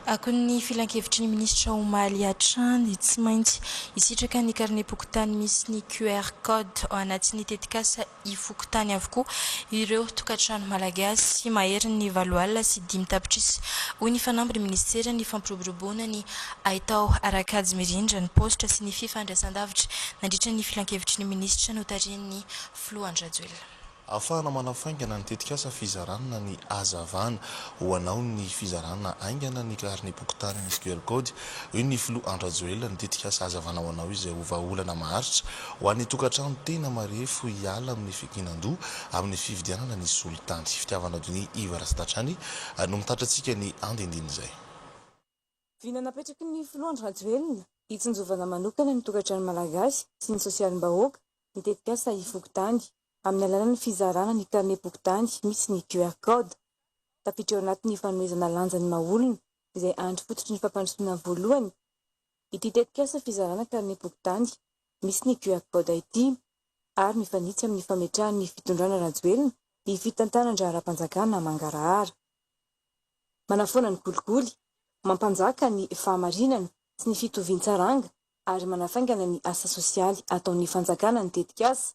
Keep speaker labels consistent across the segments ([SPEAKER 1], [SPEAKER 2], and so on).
[SPEAKER 1] Akoho ny filankevitry ny minisitra omaly hatrany, tsy maintsy hisitraka ny karnem-pokontany misy ny QR code ao anatin'ny tetikasa e-fokontany avokoa ireo tokantrano malagasy maherin'ny valo alina sy dimy tapitrisa, hoy ny fanambin'ny minisitera ny fampiroboroboana ny haitao ara-kajy mirindra ny paositra sy ny fifandraisandavitra nandritra ny filankevitry ny minisitra notarihin'ny filoha Andry Rajoelina. Ahafahana
[SPEAKER 2] manafaingana ny tetikasa fizarana ny hazavana. Ho anao ny fizarana haingana ny karinem-pokontany misy QR code, hoy ny filoha Andry Rajoelina, ny tetikasa Hazavana ho anao izay ho vahaolana maharitra ho an'ny tokantrano tena marefo hiala amin'ny fikinan-doha amin'ny fividianana ny solitany. Fitiavan'Adonia Iva Ratsadatrany no mitatitra antsika ny andinindin'izay.
[SPEAKER 3] Vina napetraky ny filoha Andry Rajoelina hitsinjovana manokana ny tokantrano malagasy sy ny sosialim-bahoaka ny tetikasa Ifokontany. amin'ny alalan'ny fizarana ny karnem-pokontany misy ny QR Code. Tafiditra ao anatin'ny fanomezana lanja ny maha-olona, izay andry fototry ny fampandrosoana voalohany, ity tetikasa fizarana karnem-pokontany misy ny QR Code ity ary mifanitsy amin'ny fametrahan'ny fitondrana Rajoelina ny fitantanan-draharaham-panjakana mangarahara manafoana ny kolikoly, mampanjaka ny fahamarinana sy ny fitovian-tsaranga ary manafaingana ny asa sosialy ataon'ny fanjakana ny tetikasa.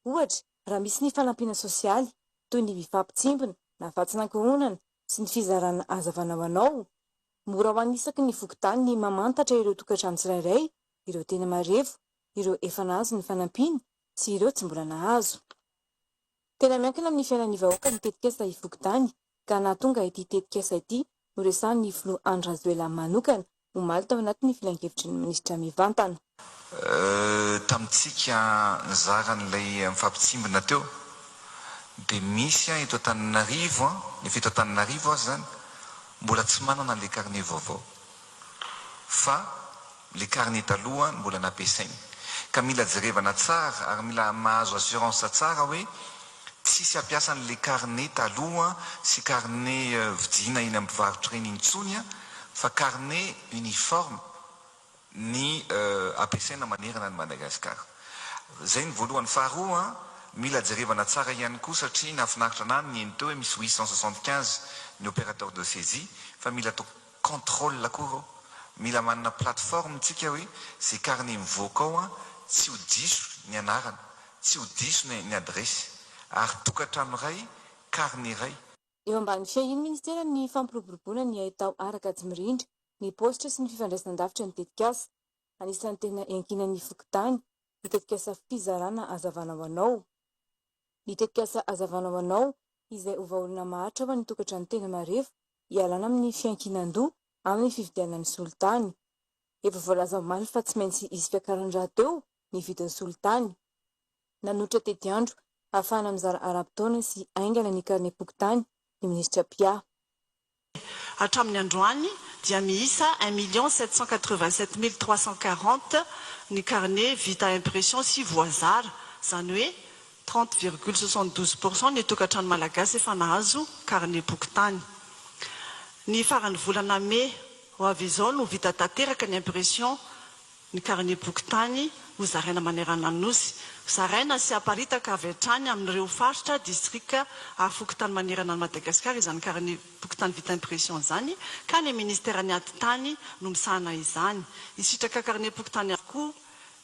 [SPEAKER 3] Ohatra, raha misy ny fanampiana sosialy, toy ny fifampitsimbina na fatsinankohonana sy ny fizarana hazavana ho anao, mora ho an'ny isaky ny fokontany ny mamantatra ireo tokantrano tsirairay, ireo tena marefo, ireo efa nahazo ny fanampiana sy ireo tsy mbola nahazo. Tena miankina amin'ny fiainan'ny vahoaka ny tetikasa Ivokontany ka nahatonga ity tetikasa ity noresahan'ny filoha Andry Rajoelina manokana omaly tao anatin'ny filankevitry ny minisitra mivantana. Tamintsika
[SPEAKER 4] nizara an'ilay mifampitsimbina teo dia misy an eto Antananarivo an, efa eto Antananarivo aza izany, mbola tsy manana an'ilay carnet vaovao. fa le carnet taloha no mbola nampiasainy. Ka mila jerevana tsara ary mila mahazo assurance tsara hoe tsisy hampiasa an'le carnet taloha sy carnet vidiana eny amin'ny mpivarotra eny intsony fa carnet uniforme ny ampiasaina manerana an'i Madagasikara. Zay ny voalohany. Faharoa mila jerevana tsara ihany koa satria nahafinaritra anah ny niheno teo hoe misy huit cent soixante quinze ny opérateur de saisie fa mila contrôle koa rô, mila manana plateforme tsika hoe ze carnet mivoaka ao an tsy ho diso ny anarana, tsy ho diso ny ny adiresy, ary tokatrano iray, carnet iray. Eo ambany fiahian'ny
[SPEAKER 3] Minisitera ny fampiroboroboana ny haitao ara-kajy mirindra, ny paositra sy ny fifandraisan-davitra ny tetikasa. Anisan'ny tena iankinan'ny fokontany, ny tetikasa Fizarana Hazavana ho anao. Ny tetikasa Hazavana ho anao izay ho vahaolana maharitra ho an'ny tokantrano tena marefo hialana amin'ny fiankinan-doha amin'ny fividianana ny solitany. Efa voalaza omaly fa tsy maintsy hisy fiakarany rahateo ny vidin'ny solitany. Nanolotra tetiandro hahafahana mizara ara-potoana sy haingana ny karnem-pokontany ny minisitra Pia.
[SPEAKER 5] Hatramin'ny androany dia miisa un million sept cent quatre-vingt-sept mille trois cent quarante ny carnet vita impression sy voazara, izany hoe trente virgule soixante-douze pour cent ny tokantrano malagasy efa nahazo carnet bokin-tany. Ny faran'ny volana mey ho avy izao no vita tanteraka ny impression ny karinem-pokontany ho zaraina manerana ny Nosy, zaraina sy aparitaka avy hatrany amin'ireo faritra, distrika ary fokontany manerana an'i Madagasikara izany karinem-pokontany vita impression izany ka ny minisiteran'ny Atitany no misahana izany. Hisitraka karinem-pokontany avokoa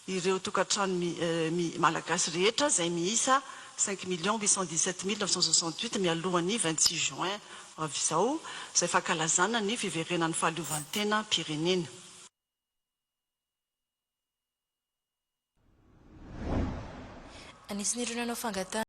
[SPEAKER 5] ireo tokantrano mi Malagasy rehetra izay miisa cinq millions huit cent dix-sept mille neuf cent soixante-huit mialohan'ny vingt-six juin ho avy izao izay fankalazana ny fiverenan'ny fahaleovan-tenam-pirenena.
[SPEAKER 1] Anisan'ireo nanao fangatahana.